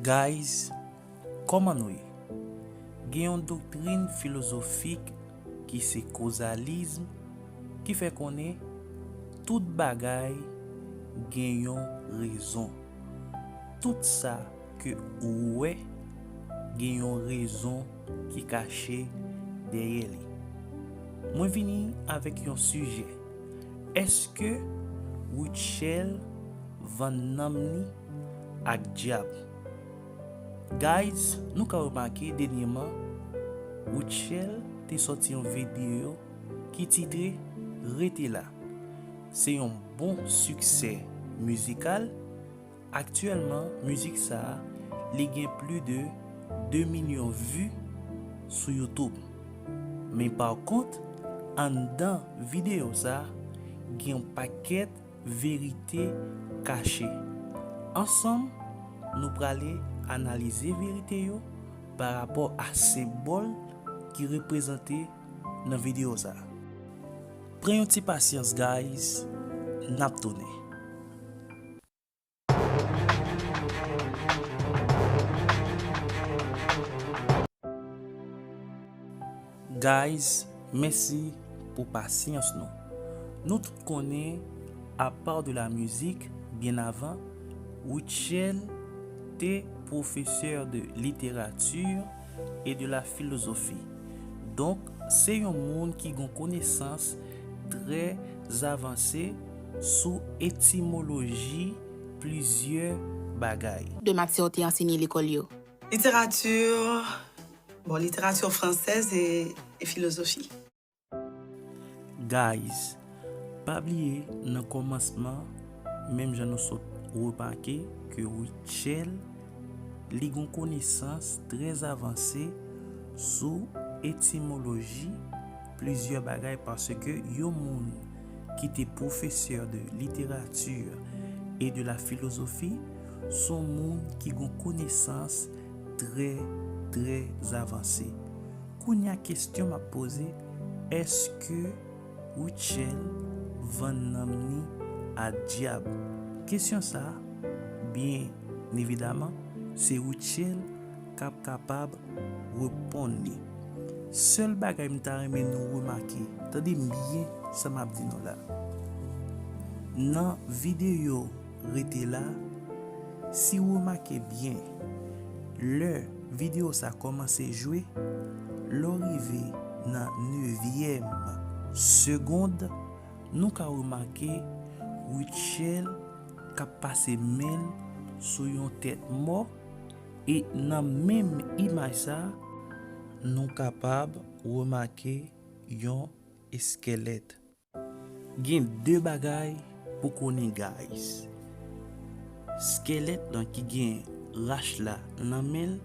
Guys Koman nou ye? Gen yon doktrin filozofik ki se kozalism ki fè konnen tout bagay gen yon rezon. Tout sa ke ou wè gen yon rezon. ki kache dèyè li. Mwen vini avèk yon sijè, Èske Rutshelle vann nanm li ak dyab? Guys nou ka remake dènyeman Rutshelle te sòti yon videyo ki titre Rete la. Se yon bon siksè mizikal Aktyèlman mizik sa li gen pli de 2 milyon vu sou youtube men pa kont anndan videyo sa gen yon pakèt verite kache ansanm nou prale analize verite yo pa rapò a senbòl ki reprezante nan videyo sa pran yon ti pasyans guys nap tounen. Guys mèsi pou pasyans nou Nou tout konnen apaw de la mizik byen avan Rutshelle te pwofesè de literati e de la filozofi donk se yon moun ki gon konesans trè avanse sou etimoloji plizyè bagay. De matyè w te ansenye lekòl yo. Literati, bon literati fransèz e filozofi. Guys pa bliye nan kòmansman menm jan nou sot remake ke Rutshelle li gon konesans trè avanse sou etimoloji plizyè bagay paske yon moun ki te pwofesè de literati e de la filozofi, s on moun ki gon konesans trè, trè avanse. Kounye a kestyon m ap poze, èske Rutshelle vann nanm ni a dyab? Kestyon sa a, byen evidaman, se Rutshelle k ap kapab reponn li. Sèl bagay m ta renmen nou remake, tande m byen sa m ap di nou la, nan videyo Rete la, si w remake byen, lè videyo sa kòmanse jwe, lè w rive nan nevyèm segond, nou ka remake Rutshelle k ap pase men l sou yon tèt mò, E nan menm imaj sa, nou kapab remake yon eskelèt. Gen de bagay pou konnen guys. Skelèt lan ki gen rach la nan men l,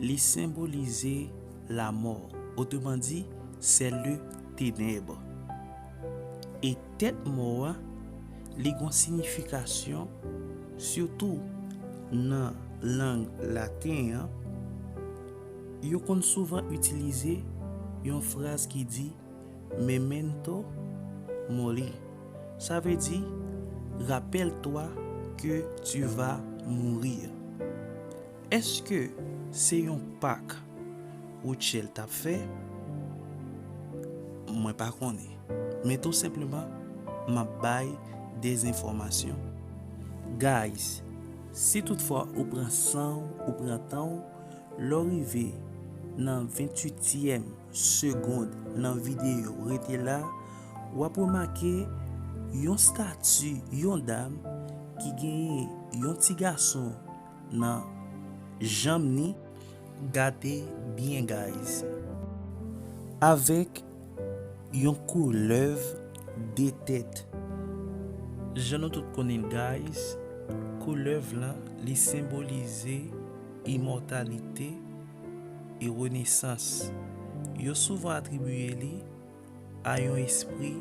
li senbolize lamò, otreman di, sè le tenèb. E tèt mò a. Li gon signification sitou nan lang laten an yo konn souvan itilize yon fraz ki di memento mori sa vle di rappelle toi que tu vas mourir. Èske se yon Pak Rutshelle t ap fè? Mwen pa konnen. Men tou senpleman m ap bay dezenfòmasyon. Guys, si tout fwa ou pran san w, ou pran tan w, lè w rive nan 28 tièm segond nan videyo rete la, w ap remake yon stati yon dam ki genyen yon ti gason nan janm ni gate byen guys. Avek yon koulèv 2 tèt. Jan nou tout konnen l guys koulèv lan li senbolize imòtalite e renesans. Yo souvan atribiye li. a yon espri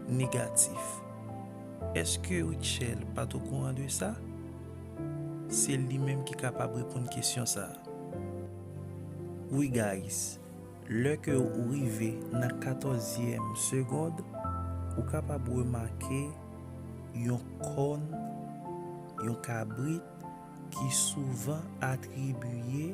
negatif. Eske Rutshelle pat okouran de sa? Se li menm ki kapab reponn kesyon sa. Wi guys, lè ke ou rive nan katòzyèm segond, ou kapab remake yon kòn, yon kabrit ki souvan atribiye,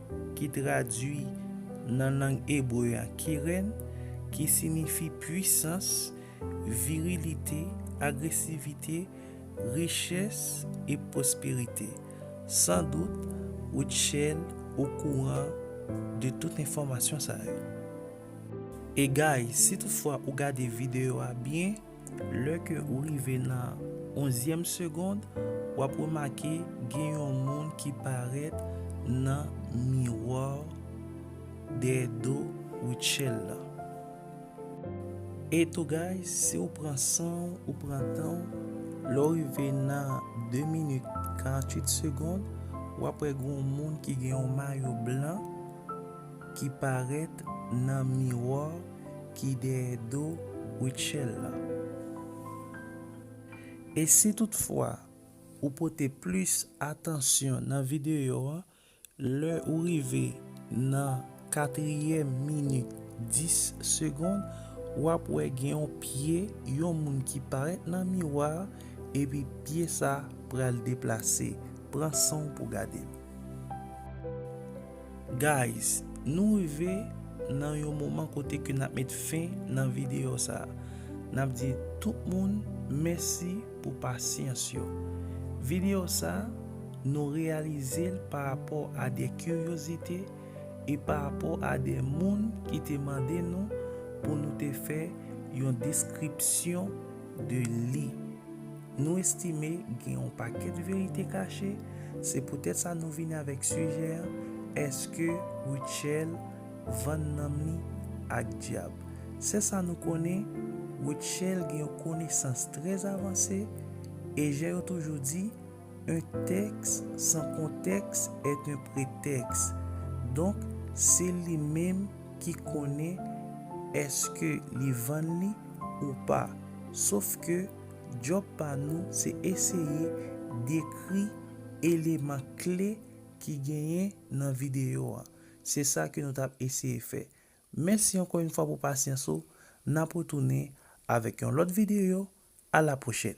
ki tradui nan lang ebre a kiren, ki sinifi puisans, virilite, agresivite, richès e pwosperite. Sandout, Rutshelle okouran de tout enfòmasyon sa yo. E guys, si tout fwa ou gade videyo a byen, Lè ke ou rive nan onzyèm segond, w ap remake gen yon moun ki parèt nan miwa dèyè do Rutshelle lan. Eto guys, si w pran san w, ou pran tan w, lè w rive nan de minit karantwit segond, w ap wè gen yon moun ki gen yon mayo blan ki parèt nan miwa. ki dèyè do Rutshelle la. E si tout fwa ou pote plis atansyon nan videyo an lè ou rive nan katriyèm minit 10 segond wap wè gen yon pye yon moun ki parèt nan miwa a epi pye sa pral deplase pran sanw pou gadel. Guys nou rive nan yon moman kote ke nap met fen nan video sa nap di tout moun mèsi pou pasyans yo video sa nou reyalizel pa rapò a de kiryozite e pa rapò a de moun ki te mande nou pou nou te fè yon deskripsyon de li. Nou estime gen yon pakèt verite kache, se poutèt sa nou vini avèk sijè an, Èske Rutshelle vann nanm li ak dyab? Sè sa nou konnen, Rutshelle gen yon konesans trè avanse, e jan yo toujou di, un texte sans contexte est un prétexte. Donk, se li menm ki konnen èske li vann li ou pa. Sof ke. Djòb pa nou se eseye dekri eleman kle ki genyen nan videyo an. Se sa ke nou t ap eseye fè. Mèsi ankò yon fwa pou pasyans ou. N ap retounen avèk yon lòt videyo. A la pwochèn!